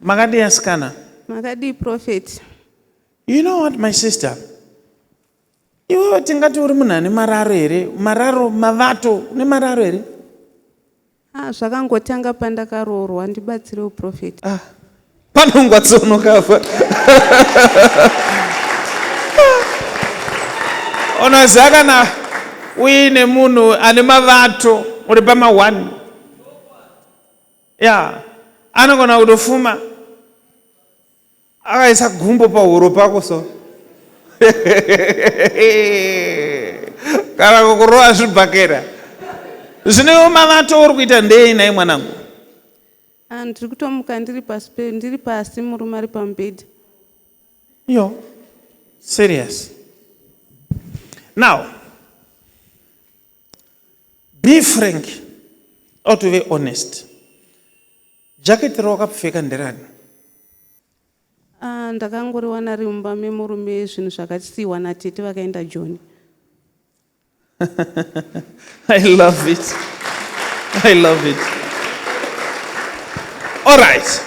Makadii asikana? Makadii prophet? You know what my sister? Iwewe tingati uri munhu ane mararo here? Mararo, mavato, une mararo here? Ah, zvakangotanga pandakaroorwa ndibatsire uprofet. Ah, panongwa tsono kafa. Unoziva kana uine munhu ane mavato uri pama one ya anogona kutofuma akaisa gumbo pahuro pako so kana kukurova zvibhakera zvinewo mavato uri kuita ndei nai mwanangu ah, ndiri kutomuka ndiri pasi ndiri pasi murume ari pamubhedha yo serious now be frank or to be honest jacket rawakapfeka nderani ah, ndakangoriwana ri mumba memurume zvinhu zvakasiiwa natete vakaenda joni i love it i love it all right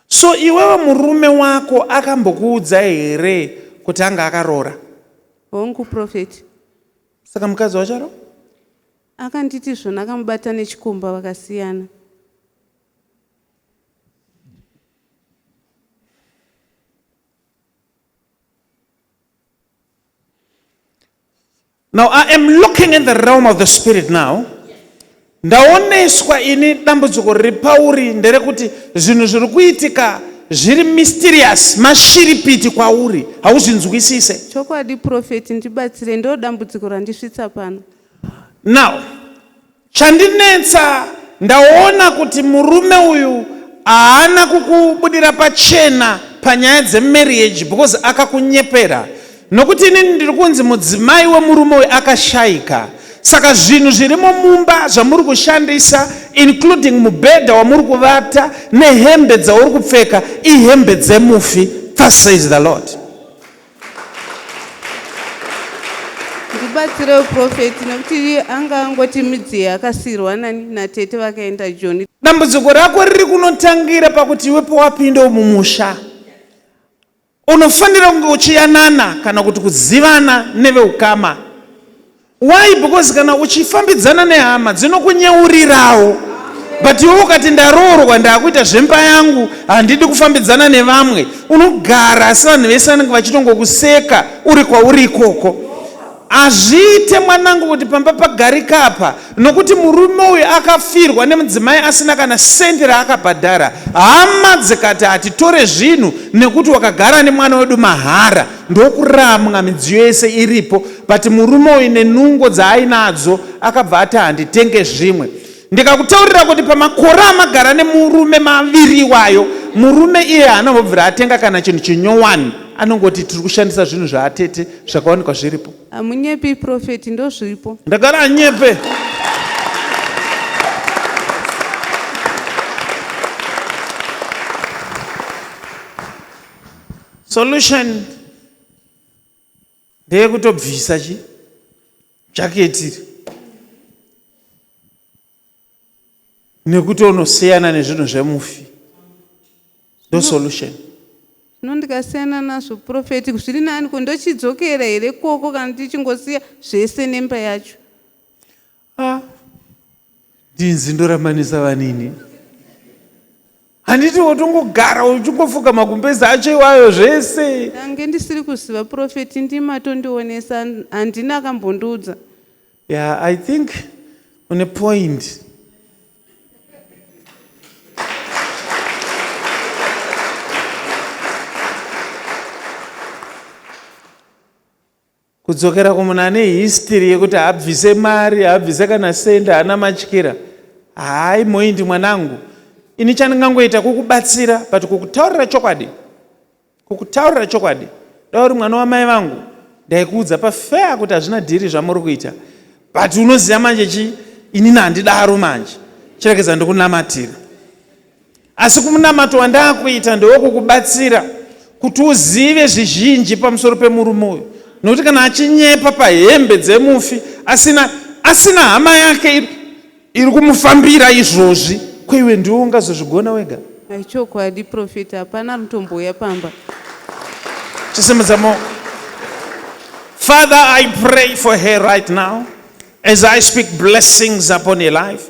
So iwewe murume wako akambokuudza here kuti anga akaroora? Hongu prophet. Saka mukadzi wacho aro? Akanditi zvona akamubata nechikomba vakasiyana. Now I am looking in the realm of the spirit now. Ndaoneswa ini dambudziko riri pauri nderekuti zvinhu zviri kuitika zviri mysterious mashiripiti kwauri hauzvinzwisise. Chokwadi prophet ndibatsire ndodambudziko randisvitsa pano. Now Chandinetsa ndaona kuti murume uyu haana kukubudira pachena panyaya dzemarriage because akakunyepera nokuti inini ndiri kunzi mudzimai wemurume uyu akashaika saka zvinhu zvirimo mumba zvamuri kushandisa including mubhedha wamuri kuvata nehembe dzauri kupfeka ihembe dzemufi thus says the Lord. ndibatsirewo profeti nekuti anga angoti midziye akasirwa nani natete vakaenda joni dambudziko rako riri kunotangira pakuti iwe powapinda umumusha unofanira kunge uchiyanana kana kuti kuzivana neveukama Why? Because kana uchifambidzana nehama dzinokunyeurirawo but iwe ukati ndaroorwa ndakuita zvemba yangu handidi kufambidzana nevamwe unogara asi vanhu vese vanenge vachitongokuseka uri kwauri ikoko hazviite mwanangu kuti pamba pagarika apa nokuti murume uyu akafirwa nemudzimai asina kana sendi raakabhadhara hama dzikati hatitore zvinhu nekuti wakagara nemwana wedu mahara ndokuramwa midziyo yese iripo but murume uyu nenungo dzaainadzo akabva ati handitenge zvimwe ndikakutaurira kuti pamakore amagara nemurume maviri iwayo murume iye haanobvira atenga kana chinhu chinyowani anongoti tiri kushandisa zvinhu zvaatete zvakawanikwa zviripo hamunyepi profeti ndozviripo ndagara anyepe Solution ndeyekutobvisa chi jacket iri nekuti unosiyana nezvinhu zvemufi ndo solution zvino ndikasiyana nazvo profeti zviri nani ko ndochidzokera here koko kana tichingosiya zvese nemba yacho Ah, ndinzi ndoramanisa vanini handiti wotongogara uchingofuka magumbezi acho iwayo zvese ndange ndisiri kuziva profeti ndimi atondionesa handina akambondiudza yeah i think une point Kudzokera kumunhu ane history yekuti haabvise mari, haabvise kana cent, haana matyira. Hayi Moindi mwanangu, ini chandingangoita kukubatsira but kukutaurira chokwadi, kukutaurira chokwadi, dai uri mwana wamai vangu ndaikuudza pafair kuti hazvina dhiri zvamuri kuita but unoziva manje chii, inini handidaro manje, chiregedza ndikunamatira. Asi kumunamato wandakuita ndewokukubatsira kuti uzive zvizhinji pamusoro pemurume uyu, nokuti kana achinyepa pahembe dzemufi asina asina hama yake iri, iri kumufambira izvozvi, ko iwe ndiwe ungazozvigona wega? Ichokwadi profeti, hapana anotombouya pamba. Chisimudza maoko. Father, I pray for her right now as I speak blessings upon her life.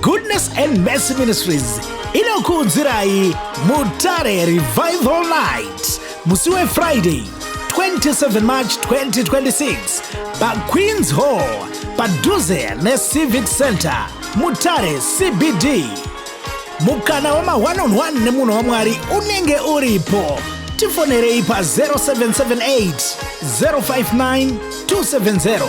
Goodness and Mercy Ministries inokuudzirai Mutare Revival Night musi weFriday 27 March 2026 paQueens Hall padhuze neCivic Center Mutare CBD. Mukana wema one on one nemunhu waMwari unenge uripo. Tifonerei pa 0778 059 270